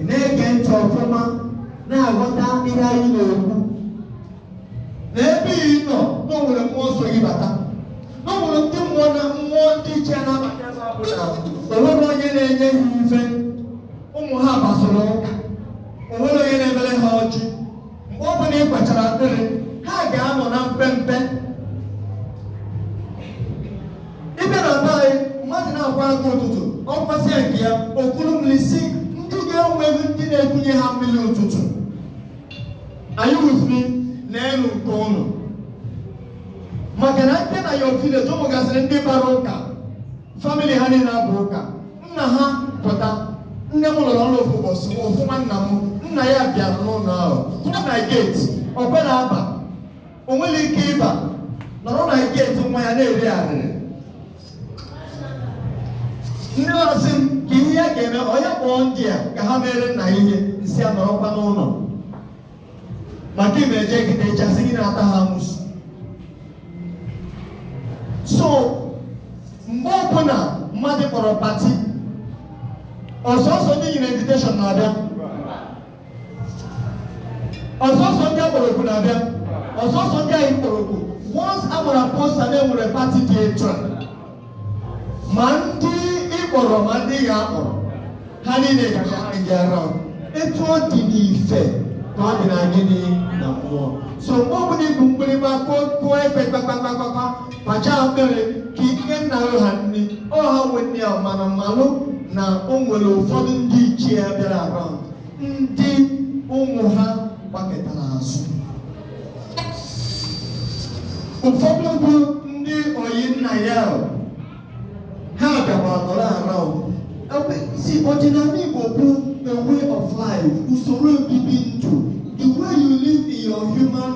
na-ege ntị ọfụma na-aghọta ihe anyị na-ekwu na ebe ị nọ na o nwere mmụọ so gị bata na o nwere ndị mmụọ na mmụọ ndị ichie na-abata ebe a bụ na o nwerọ onye na-enye ha ife ụmụ ha gbasoro ụka o nwerọ onye na-emere ha ọjị mgbe ọ bụla ị kwachara akpịrị ha ga-anọ na mpempe ị bịa na be anyị mmadụ na-akwọ aka ụtụtụ ọ kwọsịa nke ya o kuru mmiri sị ndị ga-enweghị ndị na-ekunye ha mmiri ụtụtụ anyị wụziri na elu nke ụnụ maka na ndị na your village mụgasịrị ndị bara ụka famili ha niile aba ụka nna ha pụta nne m lụrụ ọrụ ofu ụbọchị ofu nwanna m nna ya bịara n'ụlọ ahụ pụta na geeti o kwerọ aba o nwerọ ike ịba nọrọ na geeti nwa ya na-eri arịrị ndị ọ sị m ka ihe ya ga-eme ọ ya kpọọ ndị a ka ha meere nna ya ihe m sị ya nọrọkwa n'ụlọ maka ị na-eje gide ịchasị gị na-ata ha amụsụ so mgbe ọbụla mmadụ kpọrọ pati ọ sọsọ ndị e nyere invitation na-abịa ọ sọsọ ndị a kpọrọ oku na-abịa ọ sọsọ ndị anyị kpọrọ oku once a gbara posta na e nwere pati dị etu a ma ndị ị kpọrọ ma ndị ya akpọrọ ha niile ga-abịa around etu ọ dị n'ife ka ọ dị na gịnị na mmụọ so mgbe ọbụla i bu mgbịrịgba kụọ kụọ ekwe kpakpakpakpakpa kwacha akpịrị ka i nye nna gị ha nri ọ ha nwe nri a mana malụ na o nwere ụfọdụ ndị ichie ya bịara around ndị ụmụ ha gbakụtara azụ ụfọdụ bụ ndị ọyị nna ya ha bịakwa nọrọ around so ọdịnala Igbo bụ a way of life usoro obibi ndụ the way you live in your human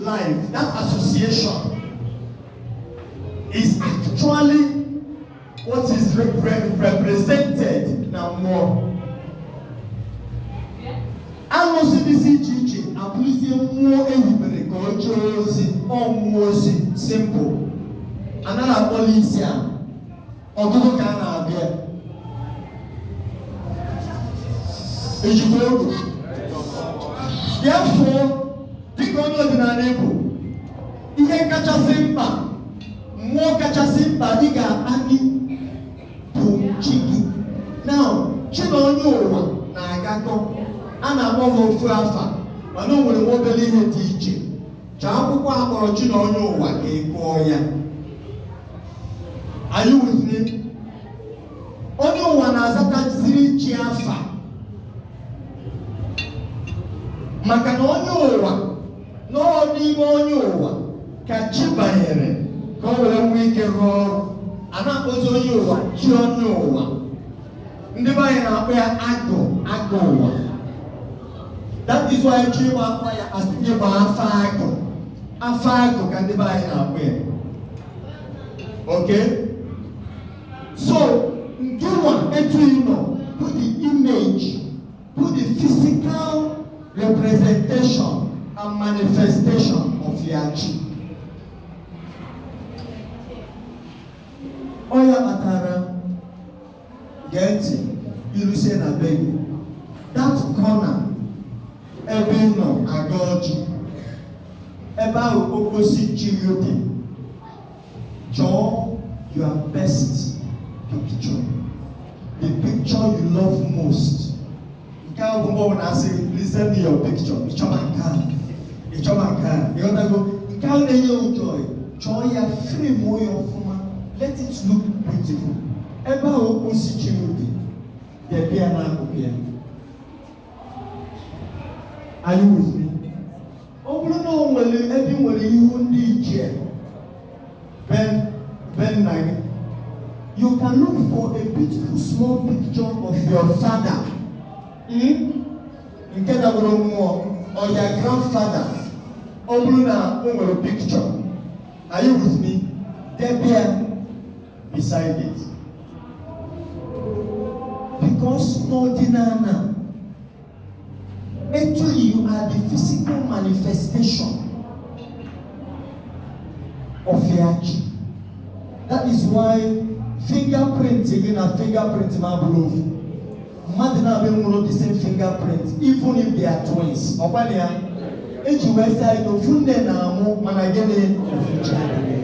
life that association is actually What is represented na mmụọ? Arụsị dịsị iche iche abụrụzie mmụọ e hibere ka o jee ozi ọ mmụọ ozi simple anaghị akpọli isi a ọgụgụ ka a na-abịa ejikwa egwu therefore dịka onye ọdịnala Igbo ihe kachasị mkpa Mmụọ kachasị mkpa ị ga-akpali bụ chi gị. Now, chi na onye ụwa na-agakọ, a na-akpọ ha ofu afa, mana o nwere nwa obere ihe dị iche. Chọọ akwụkwọ a kpọrọ chi na onye ụwa ka ị gụọ ya. Are you with me? Onye ụwa na-azataziri chi afa maka na onye ụwa na ọ n'ime onye ụwa ka chi banyere ka o were nwee ike rụọ ọrụ a na-akpọzi onye ụwa chi onye ụwa ndị be anyị na-akpọ ya agụ agụ ụwa that is why ị chọọ ịgba afa ya a sị gị gba afa agụ afa agụ ka ndị be anyị na-akpọ ya okay so nke nwa etu ị nọ put the image put the physical representation and manifestation of your chi ọ ya kpatara gee ntị i rusie na be gị that corner ebe ị nọ agọ ọjị ebe ahụ okposi chi gị dị Chọọ your best picture the picture you love most nke a bụ mgbe ọ bụla a sị please send me your picture ị chọba nke a ị chọba nke a ị ghọtago nke ahụ na-enye gị joy chọọ ya frameuo ya ọfụma let it look beautiful ebe ahụ okposi chi gị dị debe ya n'akụkụ ya are you with me? ọ bụrụ na o nwere ebe ị nwere ihu ndị ichie be be nna gị you can look for a beautiful small picture of your father mm? nke dabụrụ mmụọ or your grandfather ọ bụrụ na o nwere picture are you with me? debe ya beside it because n'ọdịnana etu you are the physical manifestation of your chi that is why fingerprint gị na fingerprint m abụrọ ofu mmadụ naabọ enwerọ the same fingerprint even if they are twins ọkwa nya e ji wee sị na ofu nne na-amụ mana gịnị ofu chi adịghị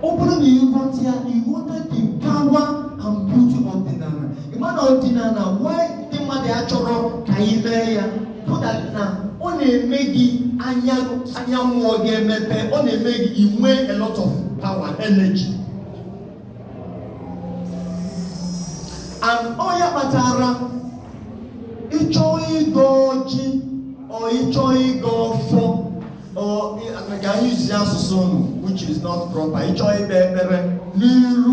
ọ bụrụ na ị ghọta ya ị ghọta the power and beauty of ọdịnana ị ma na ọdịnana why ndị mmadụ achọrọ ka anyị mee ya bụ that na ọ na-eme gị anya mmụọ gị emepe ọ na-eme gị i nwee a lot of power energy and ọ ya kpatara ị chọọ ịgọ ọjị or ị chọọ ịgọ ọfọ Ọ- ka anyị use asụsụ unu which is not proper ịchọ ikpe ekpere n'iru